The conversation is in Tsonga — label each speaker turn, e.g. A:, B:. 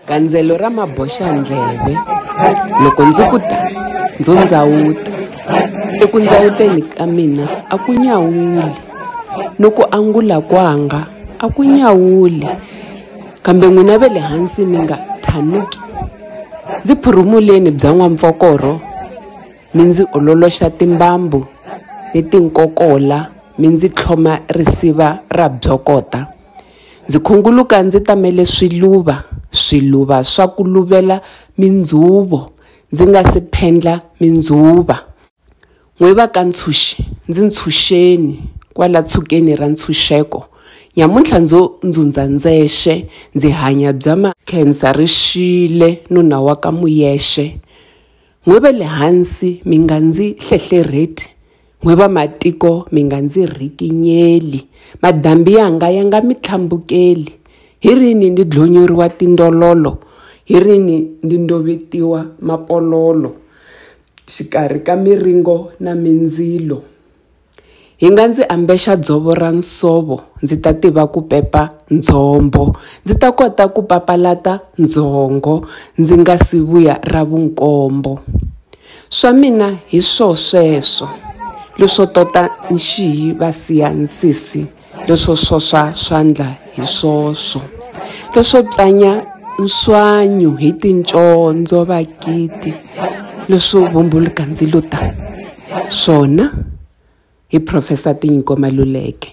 A: gandzelo ra maboxandleve loko ndzi ku ta ndzo ndzawuta eku ndzawuteni ka mina a ku nyawuli no ku angula kwanga a ku nyawuli kambe n'wina ve le hansi mi nga thanuki ndzi phurumuleni bya n'wampfokoro mi ndzi ololoxa timbambu ni tinkokola mi ndzi tlhoma risiva ra byokota Ndzi khunguluka ndzi tamele swiluva, swiluva swa ku luvela mindzuvo, ndzi nga si phendla mindzuva. N'we va ka ntshunxi, ndzi ntshunxeni, kwala tshukeni ra ntshunxeko. Nyamuntlha ndzo ndzundza ndzexe, ndzi hanya bya ma. Khensa ri xile, nuna wa ka Muyexe. N'we ve le hansi mi nga ndzi hlehlerheti, n'we vamatiko mi nga ndzi rhikinyeli, madambi yanga ya nga mi tlhambukeli. Hi rini ndi dlonyoriwa tindololo, hi rini ndi ndovetiwa mapololo xikarhi ka miringo na mindzilo? Hi nga ndzi ambexa dzovo ra nsovo, ndzi ta tiva ku pepa ndzhombo, ndzi ta kota ku papalata ndzhongo ndzi nga si vuya ra vunkombo. Swa mina hi swo sweswo, leswo tota nxiyi va siya nsisi. leswo swoswa swandla hi swoswo leswo psanya nswanyu hi tincondzo vakiti leswo vumbuluka ndzilo ta swona hi Professor Tinyiko Maluleke.